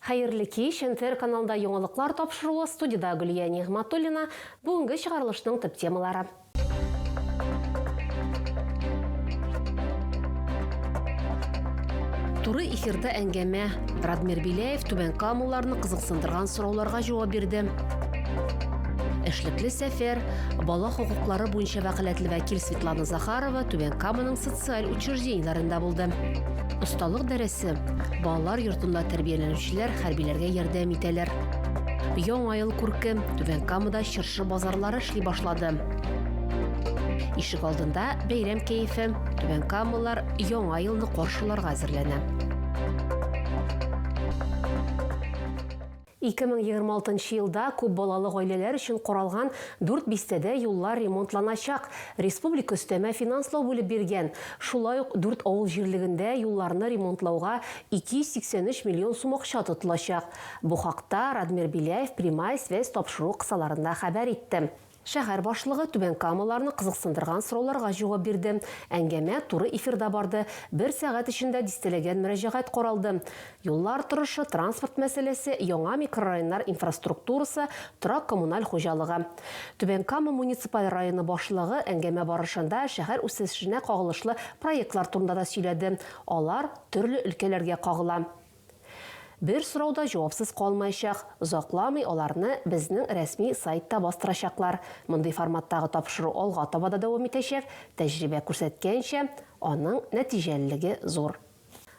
Хәерле кич, НТР каналында яңалыклар тапшыруы, студида Гөлия Нигъматуллина, бүгенге чыгарылышның төп темалары. Туры эфирда әңгәмә, Радмир Беляев Түбән Камаларны кызыксындырган сорауларга җавап бирде. Эшлекле сәфәр, бала хокуклары буенча вәкаләтле вәкил Светлана Захарова Түбән Каманың социаль учреждениеләрендә булды. Осталык дәресе балалар йортында тәрбияләнүчеләр хәрбиләргә ярдәм итәләр. Яңа ел күрке Түбән Камада чыршы базарлары эшли башлады. Ишек алдында бәйрәм кәефе, Түбән Камалар яңа елны каршыларга әзерләнә. 2026 нчы елда күп балалы гаиләләр өчен каралган дүрт бистәдә юллар ремонтланачак, республика өстәмә финанслау бүлеп биргән. Шулай ук дүрт авыл җирлегендә юлларны ремонтлауга 283 миллион сум акча тотылачак. Бу хакта Радмир Беляев Прямая связь тапшыру кысаларында хәбәр итте. Шәһәр башлыгы Түбән Камаларны кызыксындырган сорауларга җавап бирде. Әңгәмә туры эфирда барды. Бер сәгать эчендә дистәләгән мөрәҗәгать каралды. Юллар торышы, транспорт мәсьәләсе, яңа микрорайоннар инфраструктурасы, торак-коммуналь хуҗалыгы. Түбән Кама муниципаль районы башлыгы әңгәмә барышында шәһәр үсешенә кагылышлы проектлар турында да сөйләде, алар төрле өлкәләргә кагыла. Бер сорау да җавапсыз калмаячак, озакламый аларны безнең рәсми сайтта бастырачаклар. Мондый форматтагы тапшыру алга таба да дәвам итәчәк, тәҗрибә күрсәткәнчә, аның нәтиҗәлелеге зур.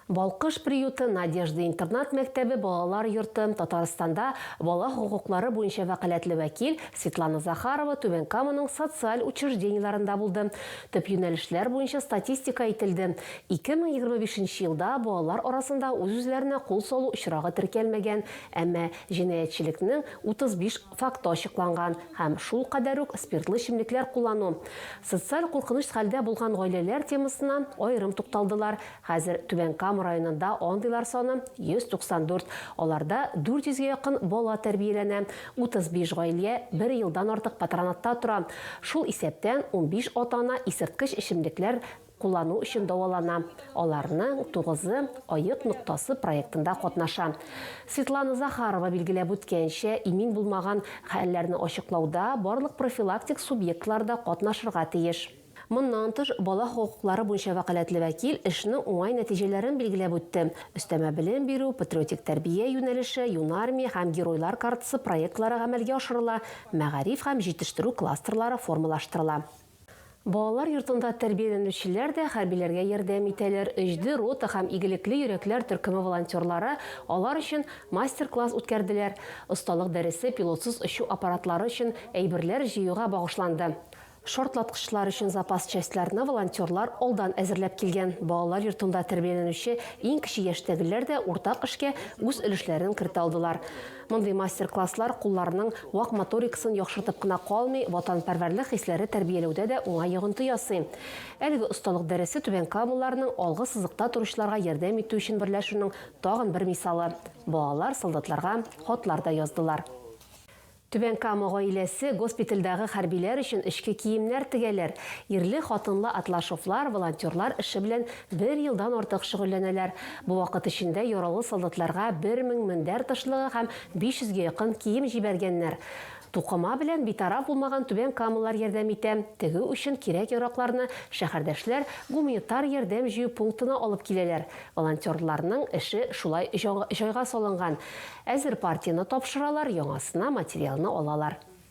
Балкыш приюты, Надежда интернат-мәктәбе, балалар йорты, Татарстанда бала хокуклары буенча вәкаләтле вәкил Светлана Захарова Түбән Каманың социаль учреждениеләрендә булды, төп юнәлешләр буенча статистика әйтелде, 2025 нче елда балалар арасында үз-үзләренә кул салу очрагы теркәлмәгән, әмма җинаятьчелекнең 35 факты ачыкланган һәм шул кадәр үк спиртлы эчемлекләр куллану. Социаль куркыныч хәлдә булган гаиләләр темасына аерым тукталдылар, хәзер Түбән Кама районында андыйлар саны 194, аларда 400 гә якын бала тәрбияләнә, 35 гаилә бер елдан артык патронатта тора, шул исәптән унбиш ата-ана исерткеч эчемлекләр куллану өчен дәвалана, аларның тугызы Аек ноктасы проектында катнаша. Светлана Захарова билгеләп үткәнчә, имин булмаган хәлләрне ачыклауда барлык профилактик субъектлар да катнашырга тиеш. Моннан тыш, бала хокуклары буенча вәкаләтле вәкил эшнең уңай нәтиҗәләрен билгеләп үтте, өстәмә белем бирү, патриотик тәрбия юнәлеше, Юнармия һәм Геройлар картасы проектлары гамәлгә ашырыла, мәгариф һәм җитештерү кластерлары формалаштырыла. Балалар йортында тәрбияләнүчеләр дә хәрбиләргә ярдәм итәләр, Өҗде рота һәм Игелекле йөрәкләр төркеме волонтерлары алар өчен мастер-класс үткәрделәр, осталык дәресе пилотсыз очу аппаратлары өчен әйберләр җыюга багышланды. Шартлаткычлар өчен запас частьларны волонтерлар алдан әзерләп килгән. Балалар йортында тәрбияләнүче иң кече яшьтәгеләр дә уртак эшкә үз өлешләрен кертә алдылар. Мондый мастер-класслар кулларның вак моторикасын яхшыртып кына калмый, ватанпәрвәрлек хисләре тәрбияләүдә дә уңай йогынты ясый. Әлеге осталык дәресе Түбән Камалыларның алгы сызыкта торучыларга ярдәм итү өчен берләшүнең тагын бер мисалы. Балалар солдатларга хатлар да яздылар. Түбән Кама гаиләсе госпитальдәге хәрбиләр өчен эчке киемнәр тегәләр. Ирле-хатынлы Атлашевлар волонтерлар эше белән Бер елдан артык шөгыльләнәләр. Бу вакыт эчендә яралы солдатларга бер мең мендәр тышлыгы һәм 500 гә якын кием җибәргәннәр. Тукыма белән битараф булмаган түбән камалылар ярдәм итә, тегү өчен кирәк-яракларны шәһәрдәшләр гуманитар ярдәм җыю пунктына алып киләләр. Волонтерларның эше шулай җайга салынган, әзер партияне тапшыралар, яңасына материалны алалар.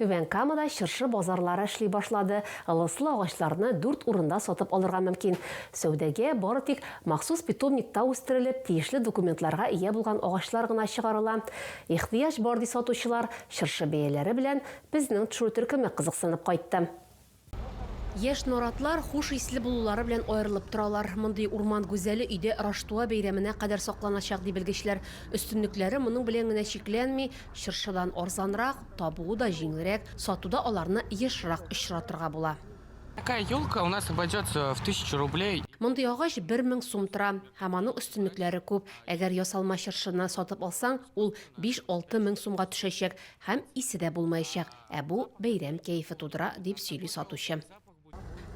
Түбән Камада чыршы базарлары эшли башлады, ылыслы агачларны дүрт урында сатып алырга мөмкин. Сәүдәгә бары тик махсус питомникта үстерелеп, тиешле документларга ия булган агачлар гына чыгарыла. Ихтыяҗ бар, ди сатучылар. Чыршы бәяләре белән Безнең төшерү төркеме кызыксынып кайтты. Яшь наратлар хуш исле булулары белән аерылып торалар. Мондый урман гүзәле өйдә Раштуа бәйрәменә кадәр сакланачак, ди белгечләр. Өстенлекләре моның белән генә чикләнми, чыршыдан арзанрак, табуы да җиңелрәк, сатуда аларны ешрак очратырга була. Такая елка у нас обойдется в тысячу рублей. Мондый агач бер мең сум тора. Һәм аның өстенлекләре күп. Әгәр ясалма чыршыны сатып алсаң, ул биш-алты мең сумга төшәчәк, һәм исе дә булмаячак. Ә бу бәйрәм кәефе тудыра, дип сөйли сатучы.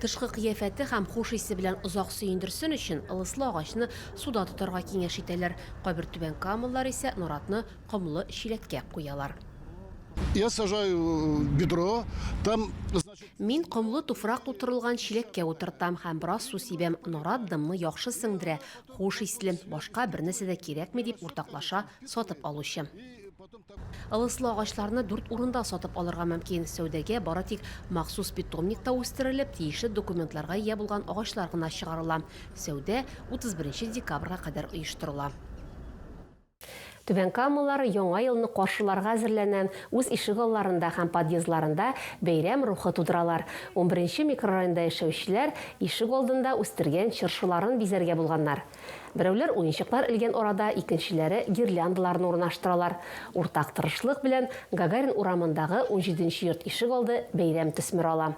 Тышкы кыяфәте һәм хуш исе белән озак сөендерсен өчен, ылыслы агачны суда тотарга киңәш итәләр. Кайбер түбән камалылар исә норатны комлы чиләткә куялар. Я сажаю в бедро, там, значит... Мин комлы туфрак тутырылган чиләккә утыртам һәм бераз су сибәм. Норат дымны яхшы сеңдерә, хуш исле. Башка бернәрсә дә кирәкми, дип уртаклаша сатып алучы. Ылыслы агачларны дүрт урында сатып алырга мөмкин. Сәүдәгә бары тик махсус питомникта үстерелеп, тиешле документларга ия булган агачлар гына чыгарыла. Сәүдә 31 декабрьгә кадәр оештырыла. Түбәнкамалылар Яңа елны каршыларга әзерләнә, үз ишегалларында һәм подъездларында бәйрәм рухы тудыралар. Унберенче микрорайонда яшәүчеләр ишегалдында үстергән чыршыларын бизәргә булганнар. Берәүләр уенчыклар элгән арада икенчеләре гирляндаларны урнаштыралар. Уртак тырышлык белән Гагарин урамындагы унҗиденче йорт ишегалды бәйрәм төсмер ала.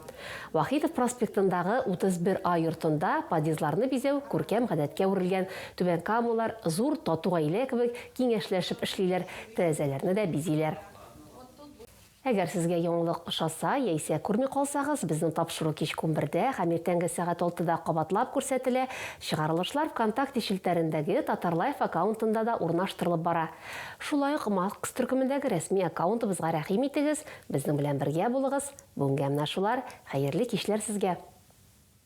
Вахитов проспектындагы 31 А йортында подъездларны бизәү күркәм гадәткә әверелгән, түбәнкамалылар зур тату гаилә кебек киңәшләшеп эшлиләр, тәрәзәләрне дә бизиләр. Әгәр сезгә яңалык ошаса, яисә күрми калсагыз, безнең тапшыру кичке унбердә һәм иртәнге сәгать алтыда кабатлап күрсәтелә, чыгарылышлар Вконтакте челтәрендәге Татарлайф аккаунтында да урнаштырылып бара. Шулай ук Макс төркемендәге рәсми аккаунтыбызга рәхим итегез, безнең белән бергә булыгыз. Бүгенгә менә шулар, хәерле кичләр сезгә!